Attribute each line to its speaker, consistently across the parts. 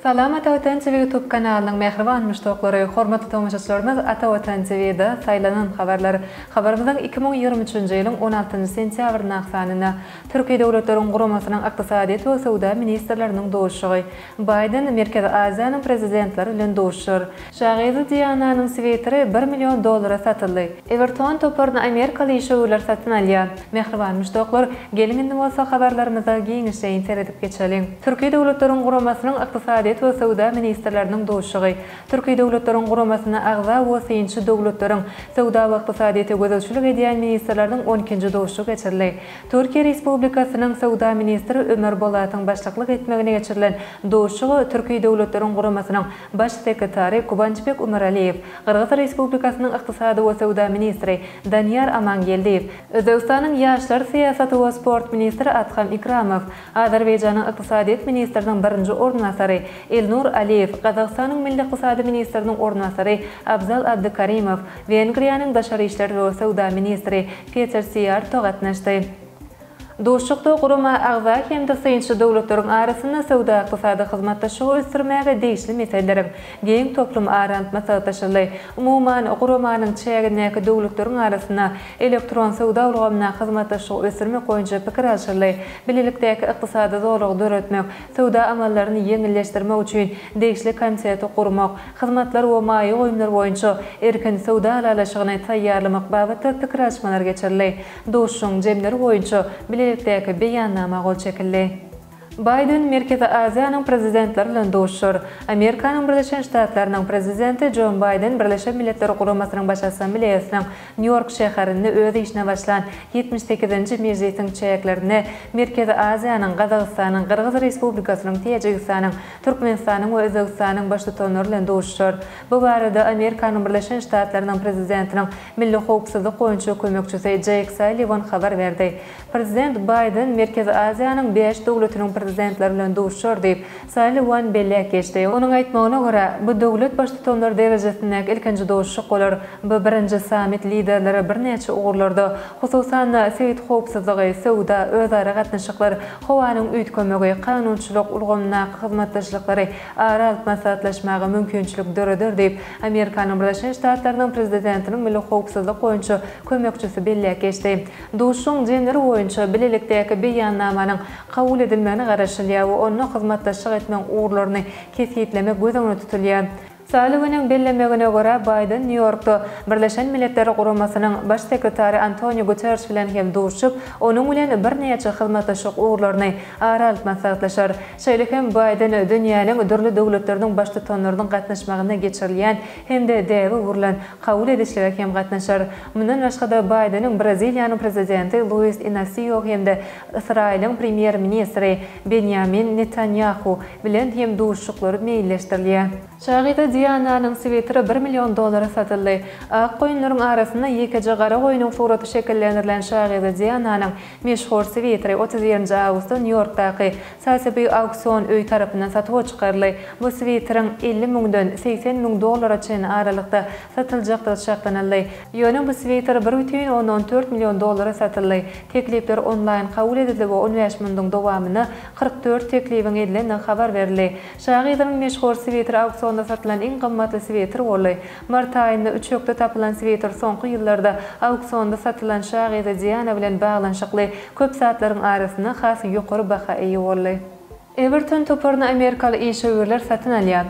Speaker 1: Salam Ata Watan TV YouTube kanalynyň mähriban muşdaklary, hormatly tomaşaçylarymyz Ata Watan TV da saýlanan habarlar. Habarymyzyň iki müň ýigrimi üçünji ýylyň on altynjy sentýabrynyň aksanyna Türki Döwletleriň Guramasynyň Ykdysadyýet we söwda ministrleriniň duşuşygy Baýden Merkezi Aziýanyň prezidentleri bilen duşar. Şagyzy Diananyň switeri bir million dollara satyldy. Ewerton toparyny amerikaly işewürler satyn alýar. Mähriban muşdaklar, geliň indi bolsa habarlarymyza giňişleýin seredip geçeliň. Türki Döwletleriň Guramasynyň Ykdysadyýet we söwda ministrleriniň duşugy. Türki Döwletleriň Guramasyna agza we synçy döwletleriň, söwda we ykdysadyýete gözegçilik edýän ministrleriniň on ikinji duşugy geçirildi. Türkiýe Respublikasynyň Söwda ministri Ömer Bolatyň başlyklyk etmegine geçirilen duşuşyga Türki Döwletleriň Guramasynyň Baş sekretary Guwançbek Umaraliýew, Gyrgyz Respublikasynyň Ykdysady we söwda ministri Danyýar Amangeldiýew, Özbegistanyň Ýaşlar syýasaty we sport ministri Adham Ikramow, Azerbaýjanyň Ykdysadyýet ministriniň birinji orunbasary Elnur Aliýew, Gazagystanyň Milli ykdysady ministriniň orunbasary Abzal Abdykarimow, Wengriýanyň Daşary işler we söwda ministri Peter Siýarto gatnaşdy. Duşuşykda gurama agza hem-de synçy döwletleriň arasynda söwda-ykdysady hyzmatdaşlygy ösdürmäge degişli meseleleriň giň toplum aran maslahatlaşyldy. Umuman, guramanyň çägindäki döwletleriň arasynda elektron söwda ulgamynda hyzmatdaşlygy ösdürmek boýunça pikir alşyldy, bilelikdäki ykdysady zolagy döretmek, Söwda amallaryny ýeňilleşdirmek üçin degişli komiteti gurmak, hyzmatlar we maýa goýumlar boýunça erkin söwda ylalaşygyny taýýarlamak babatda pikir alyşmalar geçirildi. Duşuşygyň jemleri boýunça bilelikdäki beýannama gol çekildi. Baýden Merkezi Aziýanyň prezidentleri bilen duşuşar. Amerikanyň Birleşen Ştatlarynyň Prezidenti Joe Baýden Birleşen Milletler Guramasynyň Baş Assambleýasynyň Nýu-Ýork şäherinde öz işine başlan ýetmiş sekizinji mejlisiň çäklerinde Merkezi Aziýanyň, Gazagystanyň, Gyrgyz Respublikasynyň, Täjigistanyň, Türkmenistanyň we Özbegistanyň Baştutanlary bilen duşuşar. Bu barada Amerikanyň Birleşen Ştatlarynyň Prezidentiniň milli howpsuzlyk boýunça kömekçisi Jeýk Salliwan habar berdi. Prezident Baýden Merkezi Aziýanyň bäş döwletiniň prezidentleri bilen duşar diýip, Salliwan belläp geçdi. Onuň aýtmagyna görä, bu döwlet baştutanlary derejesindäki ilkinji duşuşyk bolar. Bu birinji sammit liderleri birnäçe ugurlarda, hususan-da, sebit howpsuzlygy, söwda, özara gatnaşyklar, howanyň üýtgemegi, kanunçylyk ulgamyndaky hyzmatdaşlyklary ara alyp maslahatlaşmaga mümkinçilik döreder diýip, Amerikanyň Birleşen Ştatlarynyň Prezidentiniň milli howpsuzlyk boýunça kömekçisi belläp geçdi. Duşuşygyň jemleri boýunça Bilelikdäki Beýannamanyň kabul edilmegine garaşylýar we onda hyzmatdaşlyk etmegiň ugurlaryny kesgitlemek göz öňünde tutulýar. Salliweniň bellemegine görä, Baýden Nýu-Ýorkda Birleşen Milletler Guramasynyň Baş sekretary Antoniu Guterriş bilen hem duşuşyp, onuň bilen birnäçe hyzmatdaşlyk ugurlaryny ara alyp maslahatlaşar. Şeýle hem Baýden dünýäniň dürli döwletleriniň Baştutanlarynyň gatnaşmagynda geçirilýän hem-de däbe gurlan kabul edişlige hem gatnaşar. Mundan başga-da, Baýdeniň Braziliýanyň prezidenti Luis Inasio hem-de Ysraýylyň premýer-ministri Benýamin Netanýahu bilen hem duşuşyklary meýilleşdirilýär. Şahyza Diananyň switeri bir million dollara satyldy. Ak goýunlaryň arasynda ýekeje gara goýnuň suraty şekillendirilen şahyza Diananyň meşhur switeri otuz birinji awgustda Nýu-Ýorkdaky Sotheby's auksion öýi tarapyndan satuwa çykaryldy. Bu switeriň elli müňden segsen müň dollara çenli aralykda satyljakdygy çaklanyldy. Ýöne bu sweýter bir bütin ondan tört million dollara satyldy. Teklipler onlaýn kabul edildi we on bäş munduň dowamynda kyrk dört teklibiň edilendigi habar berildi. Şa gyzynyň meşhur sweýteri auksionda satylan iň gymmatly sweýter boldy. Mart aýynda üçekde tapylan sweýter soňky ýyllarda auksionda satylan şa gyzy Diana bilen baglanyşykly köp zatlaryň arasynda has ýokary baha eýe boldy. Ewerton toparyny amerikaly işewürler satyn alýar.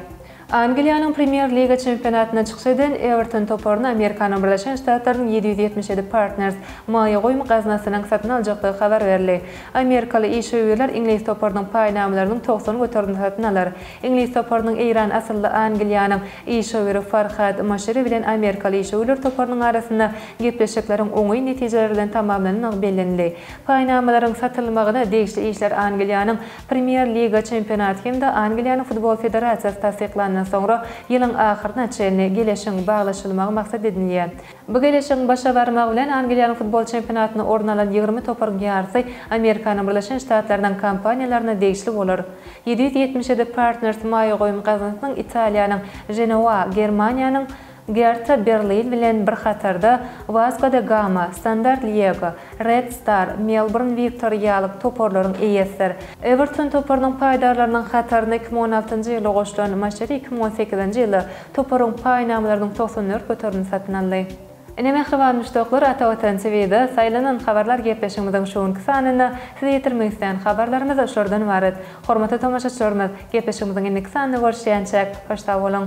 Speaker 1: Angliýanyň Premýer-liga çempionatynda çykyş eden Ewerton toparyny Amerikanyň Birleşen Ştatlarynyň ýedi ýüz ýetmiş ýedi Partners maýa goýum gaznasynyň satyn aljakdygy habar berildi. Amerikaly işewürler iňlis toparynyň paýnamalarynyň togsan göterimini satyn alar. Iňlis toparynyň eýran asylly Angliýanyň işewüri Farhad Moşiri bilen amerikaly işewürler toparynyň arasynda gepleşikleriň oňyn netijeler bilen tamamlanandygy bellenildi. Paýnamalaryň satylmagyna degişli işler Angliýanyň Premier Liga çempionaty hem-de Angliýanyň Futbol federasiýasy tassyklandan soňra ýylyň ahyryna çenli geleşigiň baglaşylmagy maksat edinilýär. Bu geleşigiň başa barmagy bilen Angliýanyň futbol çempionatyna orun alan ýigrimi toparyň ýarysy Amerikanyň Birleşen Ştatlarynyň kompaniýalaryna degişli bolar. Ýedi ýüz ýetmiş ýedi Partners maýa goýum gaznasynyň Italiýanyň Ženowa, Germaniýanyň, Gerta Berlin bilen bir hatarda Vasco da Gama, Standard Liege, Red Star, Melbourne Victory ýalyk toparlaryň eýesidir. Ewerton toparynyň paýdarlarynyň hataryna iki müň on altynjy ýylda goşulan Maşeri iki müň on sekizinji ýylda toparyň paýnamalarynyň togsan dört göterimini satyn aldy. Ine mähriban muşdaklar Ata Watan TVda saýlanan habarlar gepleşigimiziň şu günki sanynda size ýetirmek isleýän habarlarymyz şolardan ybarat. Hormatly tomaşaçylarymyz, gepleşigimiziň indiki sanynda görüşýänçäk hoş sag boluň.